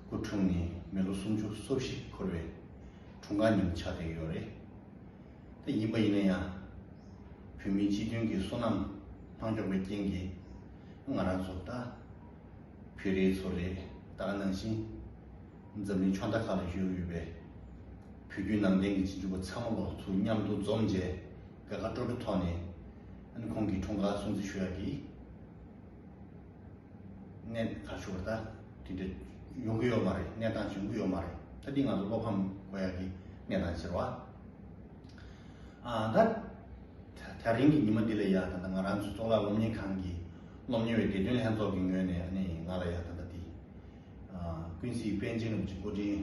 སྐུ་འཁྲུངས་ནས་མི་ལོ་སུམ་ཅུ་སོ་བཞི་འཁོར་བའི་འཁྲུངས་སྐར་ཉིན་ཆགས་བསྡད་ཡོད་རེད་དེ། ཡིན་པ་ཡིན་ན་ཡང་བོད་མིའི་སྤྱི་མཐུན་གྱི་བསོད་ནམས་ལྷང་ལྕོག་པའི་རྐྱེན་གྱིས་ང་རང་ཚོ་ད་བོད་རིགས་ཚོ་རེད་ད་ནང་བཞིན་འཛམ་གླིང་ཕྱོགས་མཐའ་ཁག་ལ་བཞུགས་ཡོད་པའི་བོད་བརྒྱུད་ནང་བསྟན་གྱི་སྤྱི་འབྱོར་པ་ཚང་མ་ལོ་ཚོ་མཉམ་དུ་འཛོམས་རྗེས་དགའ་དགའ་སྤྲོ་སྤྲོ་ཐོག་ནས་ཁོང་གི་འཁྲུངས་སྐར་སྲུང་བརྩི་ཞུ་ཡག་གི། གནས་ད་ཆུ་བ་ད་དེ་འདྲ་ཡོང་གི་ཡོད་མ་རེད་གནས་སྟངས་ཡོང་གི་ཡོད་མ་རེད་ད་དེ་ང་ཚོ་བློ་ཕམ་གོ་ཡ་གི་གནས་སྟངས་ཟེར་བ་ཨང་ད་ད་རིང་གི་ཉི་མ་འདི་ལ་ཡ་ད་ད་ང་རང་ཚོ་གཙུག་ལག་སློབ་གཉེར་ཁང་གི་སློབ་གཉེར་བའི་དགེ་འདུན་ལྷན་ཚོགས་ཀྱི་ངོས་ནས་ནི་ང་ལ་ཡ་ད་ད་དེ་ཀུན་གཟིགས་པཎ་ཆེན་རིན་པོ་ཆེ་མགོ་འདྲིན།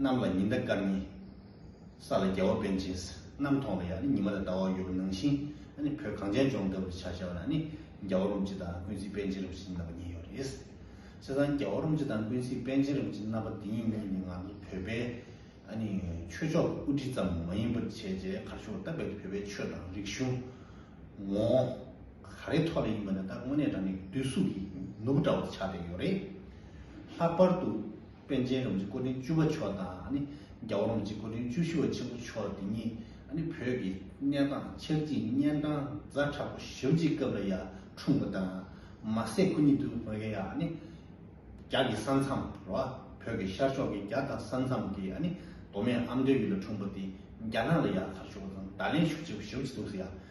གནམ་ལ་ཉི་ཟླ་སྐར་གཉིས། ས་ལ་རྒྱལ་བ་དཔལ་སྦྱིན་སྲིད། གནམ་མཐོང་ལ་ཡང་ནི་ཉི་མ་དང་ཟླ་བ་ཡོད་པར་སྣང་ཞིང། ནི་བོད་གངས་ཅན་ལྗོངས་ལྟ་བུར་བྱ་བྱ་བ་ན་ནི། རྒྱལ་བ་རུམ་བྱེད་དང་ཀུན་གཟིགས་དཔལ་སྦྱིན་རིན་པོ་ཆེ་གཉིས་རྣམ་པ་གཉིས་ཡོད་རེད། བྱས་ཙང་རྒྱལ་བ་རུམ་བྱེད་དང་ཀུན་གཟིགས་དཔལ་སྦྱིན་རིན་པོ་ཆེ་རྣམ་པ་འདི་གཉིས་ནི་ང་ཚོ་བོད་པའི། ནི། ཆོས་ཕྱོགས་ཀྱི་དབུ་ཁྲིད་ཙམ་མ་ཡིན་པར་བྱས་རྗེས་གར་ཞུ་བ་སྟབས་རྦད་དེ་བོད་པའི་ཆོས་དང་རིག་གཞུང། ངོ། ག་རེའི་ཐོག་ལ་ཡིན་པ་ནི་ད་དངོས་གནས་རང་ཉིད་བསྡུས་གཟུགས་ཀྱི་ནུབ་བྲག་པར་ཆགས་བསྡད་ཡོད་རེད། ལྷག་པར་དུ། པཎ་ཆེན་རོང་རྗེ་སྐུ་ཕྲེང་བཅུ་པ་མཆོག་དང་རྒྱ་བོ་རོང་རྗེ་སྐུ་ཕྲེང་བཅུ་བཞི་བ་ཆེན་པོ་མཆོག་འདི་གཉིས་བོད་ཀྱི་གནས་སྟངས་ཆབ་སྲིད་གཉན་འཕྲང་རྫ་དྲག་པོ་ཞབས་རྗེས་སྐབས་ལ་ཡང་འཁྲུངས་པ་དང་མ་ཟད་སྐུ་ཉིད་དུ་བོད་ཀྱི་རྒྱ་གྱི་ས་མཚམས་ལ་བོད་ཀྱི་ཤར་ཕྱོགས་ཀྱི་རྒྱ་དང་ས་མཚམས་ཀྱི་མདོ་སྨད་ཨ་མདོའི་ཡུལ་ལ་འཁྲུངས་པ་དེ་རྒྱ་ནག་ལ་ཡང་ཐར་ཞུགས་པ་དང་ད་ལན་ཞུགས་བྱེད་པ་ཞབས་རྗེས་འདུག་ཟེར་ཡང།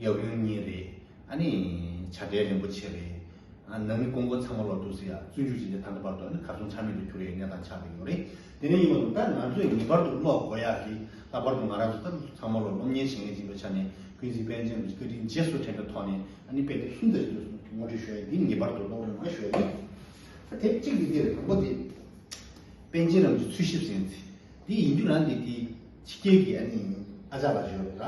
ཡབ་ཡུམ་གཉིས་རེད། ཨ་ནི་བྱ་བྲལ་རིན་པོ་ཆེ་རེད། ཨ་ནང་མི་ཀོང་པོ་ཚང་མ་ལོག་འདུག་ཟེར་ཡ་བཙོན་འཇུག་བྱེད་བྱེད་ད་ལྟ་བར་དུ་ཨ་ནི་གར་སོང་ཆ་མེད་དུ་གྱུར་ཡ་གནས་སྟངས་ཆགས་ཀྱི་ཡོད་རེད། དེ་ནས་ཡིན་པ་དང་ད་ང་ཚོས་ངེས་པར་དུ་ཀློག་དགོས་ཡ་རེད། ལྷག་པར་དུ་ང་རང་ཚོ་ད་ཚང་མ་ལོག་སློབ་གཉེར་བྱེད་མཁན་ཅིག་པའི་ཆ་ནས་ཀུན་གཟིགས་པན་ཆེན་ལ་བཀའ་དྲིན་རྗེས་སུ་དྲན་པའི་ཐོག་ནས་ཨ་ནི་དཔེ་དེབ་གསུམ་དེ་རེད་འདུག་ངོ་སྤྲོད་ཞུ་ཡ་འདི་ངེས་པར་དུ་ཀློག་རོགས་གནང་ཞུ་ཡ་ཡིན། ད་དེབ་གཅིག་འདི་དེ་རེད་དང་པོ་དེ། པན་ཆེན་རམ་འདི་འཚོལ་ཞིབ་ཟེར། འདི་ཡིན་རྒྱུ་ན་འདི་དེ། ཕྱི་རྒྱལ་གྱི་ཨ་ནེ་ཡིན་ཨ་ཅག་ལ་བརྗོད་རོགས།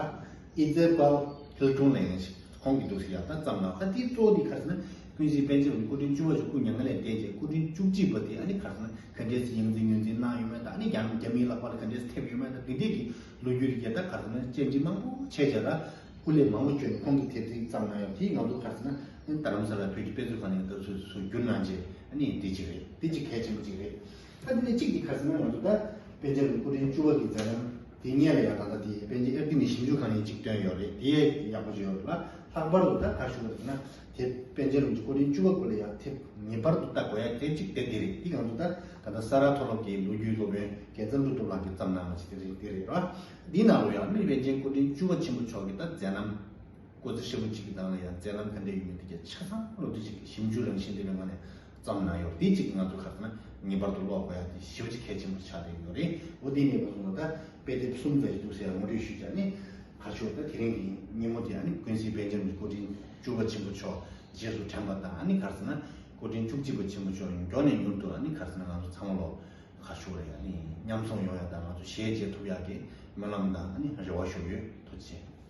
ཨི་ཙེ་པལ་ཙོའི་ཀྲུང་ལས་ཡིན་ཞིག་ཁོང་གིས་འདུག་ཤི་ཡག་ད་ཙམ་ལགས་ཨ་དེའི་གཙོ་བོ་དེ་གར་སོང་ན་ཀུན་གཞིའི་པན་ཆེན་རུ་མི་སྐུ་ཕྲེང་བཅུ་བ་ཞིག་སྐུ་མྱ་ངན་ལས་འདས་རྗེས་སྐུ་ཕྲེང་བཅུ་གཅིག་པ་དེ་ཨ་ནེ་གར་སོང་ན་ག་འདྲས་སུ་ཡང་འཛིན་ཉོན་འཛིན་གནང་ཡོད་མེད་དང་ཨ་ནེ་ཡང་རྒྱ་མིའི་ལག་པར་ག་འདྲས་སུ་ཐེབས་ཡོད་མེད་དང་དེ་འདྲས་ཀྱི་ལོ་རྒྱུས་རིགས་རྒྱལ་དར་གར་སོང་ན་བཅར་འདྲི་མང་པོ་བྱས་བྱས་ལ་སྐུ་ལས་མང་པོ་བསྐྱོན་ནས་ཁོང་གིས་དེབ་ཚིག་ཙམ་གནང་ཡོད་པ་དེ་ང་ཚོ་གར་སོང་ན་ད་ལམ་ས་ལ་བོད་ཀྱི་དཔེ་མཛོད་ཁང་ནས་ད་གཟོད་སུ་བསྒྱུར་གནང་རྗེས་ཨ་ནེ་ཡིན་དེ་གཅིག་རེད་དེ་གཅིག་གལ་ཆེན་པོ་གཅིག་རེད། ཨ་ཏི་ནི་གཅིག་གི་ཁ་ཟེར་ན་ང་ཚོ་ད་པན་ཆེན་ལ་སྐུ་ཕྲེང་བཅུ་བ་གི་མཛད་རྣམ་དེ་ཉན་ལ་ཡང་ད་ལྟ་དེ་པན་ཆེན་ཨེར་ཏི་ནི་ཞིབ་འཇུག་ཁང་ཡིན་གཅིག་བཏོན་ཡོད་རེད་དེ་ཡག་པོ་བྱས་ཡོད་ལ་ལྷག་པར་དུ་ད་ཁ་ཤུ་བ་དེ་ན་དེ་པན་ཆེན་རུང་ཆུ་སྐུ་ཕྲེང་བཅུ་བ་སྐུ་ལ་ཡང་དེ་ངེས་པར་དུ་ལྟ་དགོས་ཡ་དེ་གཅིག་དེ་དེ་རེད་དེ་ང་ཚོ་ད་ད་ལྟ་ས་ར་མཐོ་སློབ་ཀྱི་ལོ་རྒྱུས་སློབ་དཔོན་རྒྱལ་མཚམས་སྒྲུབ་ཐོབ་ལགས་ཀྱིས་བརྩམས་གནང་བ་ཞིག་དེ་རེད་དེ་རེད་ལ་དེའི་ནང་ལོ་ཡང་རྨིས་པན་ཆེན་སྐུ་ཕྲེང་བཅུ་བ་ཆེན་པོ་མཆོག་གི་ད་མཛད་རྣམ་སྐུ་ཚེ་ཧྲིལ་པོ་གཅིག་གི་ནང་ལ་ཡང་མཛད་རྣམ་ཕན་འབྲས་ཡོད་མེད་དེ་རྒྱ་ཆ་ཚང་བློ་བདེ་ཆེ་གི་ཞིབ་འཇུག་རང་བཞིན་དེ་བས་ང་ནས་ཙམ་ན་ཡོད་དེ་གཅིག་ང་ཚོ་ཁག་ན་ངེས་པར་དུ་ཀློག་དགོས་ཡག་དེ་ཞེའུ་ཅི་གལ་ཆེན་པོ་ཆགས་བསྡད་ཡོད་རེད་འོ་དེའི་གནས་སྟངས་ཐོག་ད་དཔེ་དེབ་གསུམ་བཙལ་གྱི་འདུག་ཟེར་ཡང་ངོ་སྤྲོད་ཞུས་བྱ་ནི། ཁ་ཤོར་ད་དེ་རིང་གི་ཉིན་མོ་དེ་ཨ་ནི་ཀུན་གཟིགས་དཔལ་འབྱམས་ཀྱི་སྐུ་ཕྲེང་བཅུ་བ་ཆེན་པོ་མཆོག་རྗེས་སུ་དྲན་པ་དང་ཨ་ནི་ག་ཚོད་ན་སྐུ་ཕྲེང་བཅུ་གཅིག་པ་ཆེན་པོ་མཆོག་མགྱོགས་ནས་མྱུར་དུ་ཨ་ནི་ག་ཚོད་ན་ང་ཚོ་ཚང་མ་ལོག་ཁ་ཤོར་རེད་ཨ་ནི་མཉམ་འཛོམས་ཡོང་ཡག་དང་ང་ཚོ་ཞལ་མཇལ་ཐུབ་ཡག་གི་སྨོན་ལམ་དང་ཨ་ནི་རེ་བ་ཞུ་ཡོད་ཐུགས་ཆེ།